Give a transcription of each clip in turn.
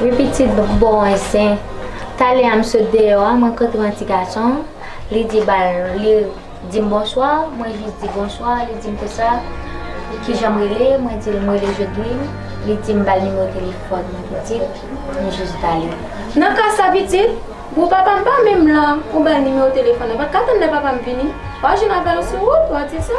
Wi pitit bon e sen. Talè a m sot deyò a mwen rankontre yon ti gason, li di bal li di m bonswa, mwen jis di bonswa, li di m konsa kijan m rele, mwen di l m rele Jodlin, li di m bal nimewo telefòn mwen pitit, m jis bali. Nan ka sa pitit, bon papa m pa menm la, ou bal nimewo telefòn nan, pat ka tann lè papa m vini, wa jwenn avè l sou wout, wa di l sa.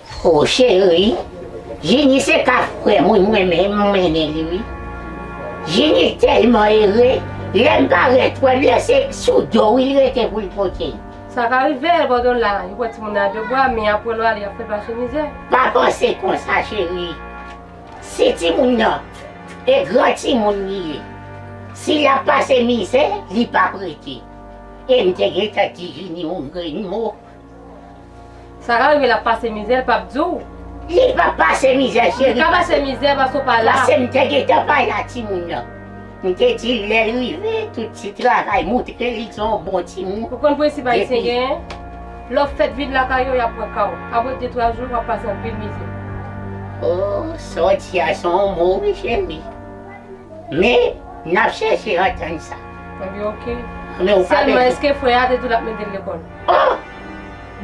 Ho cheri, Jini se ka frèm wi mwen menm m renmen li wi. Jini tèlman ere, lèm parèt wè byen se sou do wi li rete poul pote. Sa ka rive gadon la yo pran timoun nan a de bwa men aprè lwa li ap fè pase mizè. Pa panse konsa cheri, si timoun nan e gran timoun li ye, si lap pase mizè li pap rete. Em te gentan di Jini yon grenn mo. Sara rive lap pase mizè l pap di w. Li pap pase mizè cheri. Li ka pase mizè paske w pa la. Pase m te gentan pa la timoun nan. M te di l lè l rive tout ti travay moutre li se yon bon timoun. Ou konn prensip ayisyen genyen? Lè w fèt vin lakay yo yap pran ka w. Aprè de twa jou wap pase anpil mizè. Oh sa w di a se yon mo wi cheri. Men nap chèche antann sa. Ebyen ok. Sèlman eske frè a te di w lap mete l lekòl? Oh!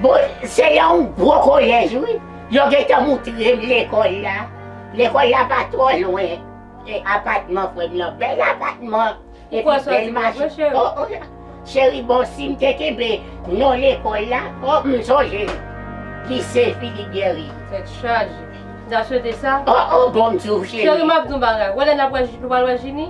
Bon, se yon gwo kolèj wi. Yo gentan moutre m lekòl la. Lekòl la pa twò lwen e apatman frè m lan. Bèl apatman epi bèl machin. Oh, oh! Cheri bon si m te kenbe non lekòl la, oh m sonje Lise Philippe Guerry. Tèt chaje. N ta swete sa? Oh, oh! Bon m di w cheri. Cheri m ap di w yon bagay. Wè lè n ap wè, nou pral wè Jini?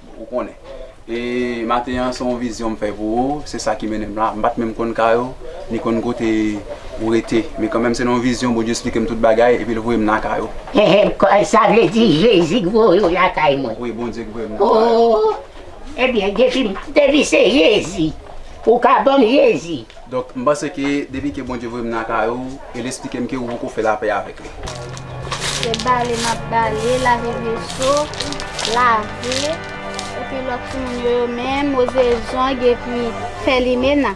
Ou konnen. E maten an se yon vizyon m fè pou ou, se sa ki mennen m la. M pa t menm konn kay ou, ni konn kote ou rete. Men kanmenm se nan yon vizyon Bondye esplike m tout bagay epi l voye m nan kay ou. Ehe, sa vle di Jezi k voye w lakay mwen? Wi, Bondye k voye m nan kay ou. Oo, ebyen depi se Jezi, ou ka ban m Jezi. Donk m panse ke depi ke Bondye voye m nan kay ou e l esplike m ke ou poko fè lapè avèk li. Se bale m ap bale, lave veso, lave, epi lòt timoun yo yo menm, woze zong epi fè limena.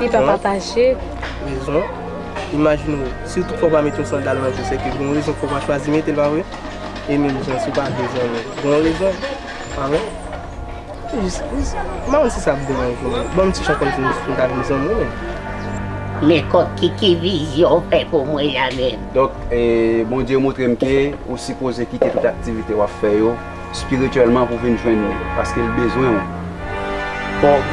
Li pa pataje. Rezon, Imajine w, si w tout fwa w pa mete yon sandal nan je w, sèke gen yon rezon ki fè w pa chwazi mete l, pa vre? E menm jan, si w pa vle zanmi, gen yon rezon, pa vre? M pa konn si sa ap deranje w, men ban m ti chan kòmsi m ta vin zanmi w menm. Men Kòki, ki vizyon w fè pou mwen la menm? Donk, Bondye montre m ke ou sipoze kite tout aktivite w ap fè yo. Spirituellement pou vin jwenn li. Paske l bezwen w. Bon.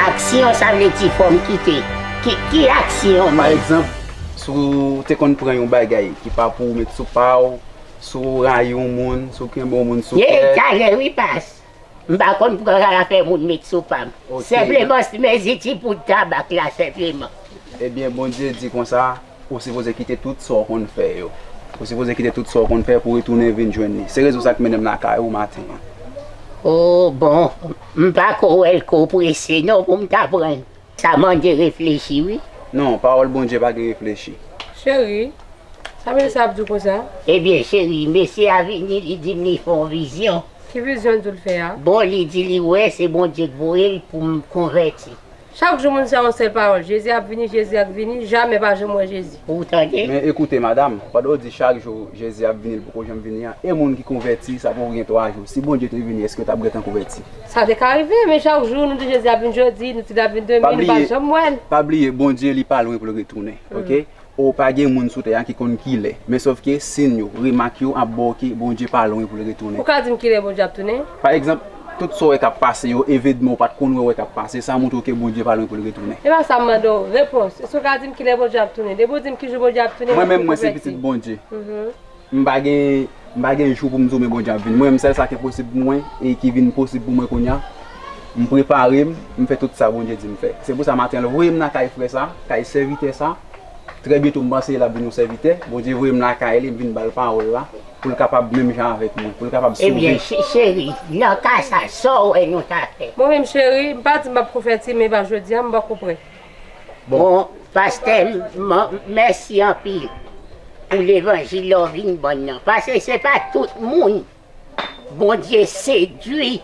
Aksyon sa vle di fò m kite. Ki aksyon menm? Pa egzanp, si w te konn pran yon bagay ki pa pou w met sou pa w, si w rayi yon moun, si w kenbe yon moun sou kè. Ye egzajè wi pas. M pa konn pran zafè moun met sou pa m. Senpleman si m eziti poud tabak la senpleman. Ebyen Bondye di konsa. Ou sipoze kite tout sa w konn fè yo. Ou sipoze kite tout sa w konn fè pou retounen vin jwenn li. Se rezon sa ki mennen m lakay ou maten an. O bon, m pa ko wè l ko prese non pou m ta pran l. Sa mande reflechi wi. Non, pawòl Bondye pa gen reflechi. Cheri, sa mesye a ap di w konsa? Ebyen cheri, mesye a vini li di m li fè yon vizyon. Ki vizyon l di w l fè a? Bon, li di li wè se Bondye k voye l pou m konvèti. Chak jou moun se yon sel pawol jezi ap vini jezi ak vini jamè pa janm wè jezi. Ou tande. Men ekoute madam, pandan ou di chak jou Jezi ap vini li poko janm vini an, e moun ki konvèti sa poko gen 3 jou, si Bondye te vini èske yo tap gentan konvèti? Sa te ka rive, men chak jou nou di Jezi ap vini jodi, nou di lap vini demen, nou pa janm wèl. Pa bliye Bondye li pa lwen poul retounen ok, O pa gen moun sou tè a ki konn kilè. Men sofke, sin yo, remak yo ap ba w ke Bondye pa lwen pou l retounen. Ou ka di m kilè Bondye ap tounen? Pa egzanp, tout sa w wè k ap pase yo, evedman ou pa t konn wè wè k ap pase, sa montre w ke Bondye pa lwen pou l retounen. Se pa sa m mande w. Repons, Èske w ka di m kilè Bondye ap tounen? Depi w di m kijou Bondye ap tounen, m ap vin konvèti. Mwen menm, mwen se pitit Bondye. M pa gen m pa gen jou pou m di w men Bondye ap vini. Mwen menm sèl sa k enposib pou mwen e ki vin posib pou mwen kounya, m prepare m, m fè tout sa Bondye di m fè. Se pou sa maten an l voye m nan kay frè sa, kay sèvitè sa, trè byento m panse l ap vin yon sèvitè, Bondye voye m lakay li m vin ba l pawòl la pou l kapab menm jan avèk mwen, pou l kapab sove. Ebyen cheri, nan ka sa, sa w wè nou ta fè? Mwen menm cheri, m pa di m p ap konvèti men pa jodi a m poko prè. Bon pastè mèsi anpil pou levanjil ou vin ban nan paske se pa tout moun Bondye sedwi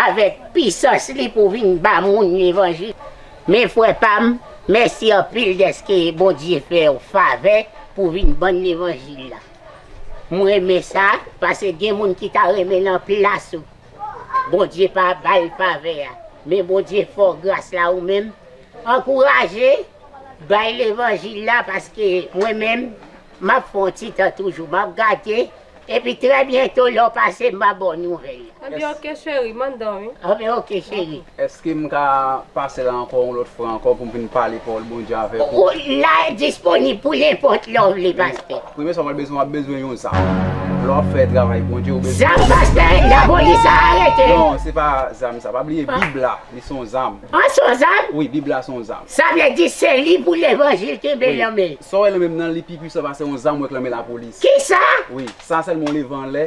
avèk pisans li pou vin ba moun levanjil men frè pam mèsi anpil dèske Bondye fèw favè pou vin ban levanjil la m renmen sa paske gen moun ki ta renmen nan plas ou. Bondye pa bal favè a men Bondye fè w gras la ou menm ankouraje bay levanjil la paske mwen menm map fè yon ti tan toujou map gade epi trè byento lè w pase m ba ba w nouvèl. Anbyen ok cheri, m anndan wi. Anbyen ok cheri. Eske m ka pase la ankò yon lòt fwa ankò pou m vin pale pawòl Bondye avèk ou? Wout la disponib pou nenpòt lè w vle Pastè. Premye sa w pral bezwen w ap bezwen yon zam. Lè w ap fè travay Bondye ou bezwen. Zam Pastè lapolis a arete. Non se pa zam sa pa bliye bib la li son zam. An son zam? Wi bib la son zam. Sa vle di se li pou levanjil kenbe lan men. Sa w wè lan men m nan li pi pwisan pase yon zam w wè k lan men lapolis. Kisa? Wi sa sèlman w leve anlè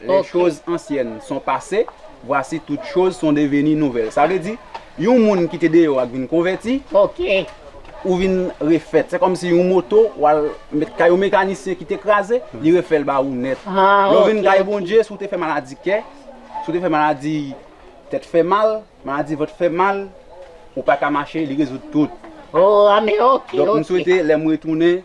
Les choses anciennes sont passées, voici toutes choses sont devenues nouvelles. Sa vle di, yon moun ki te deyò a k vin konvèti, ou vin refèt. Se kòmsi yon moto w al met kay yon mekanisyen ki te kraze, li refè l ba ou nèt. Lè w vin kay Bondye, si w te fè maladi kè, si w te fè maladi tèt fè mal, maladi vant fè mal, ou pa ka mache, li rezoud tout. Donk m swete lè m retounen.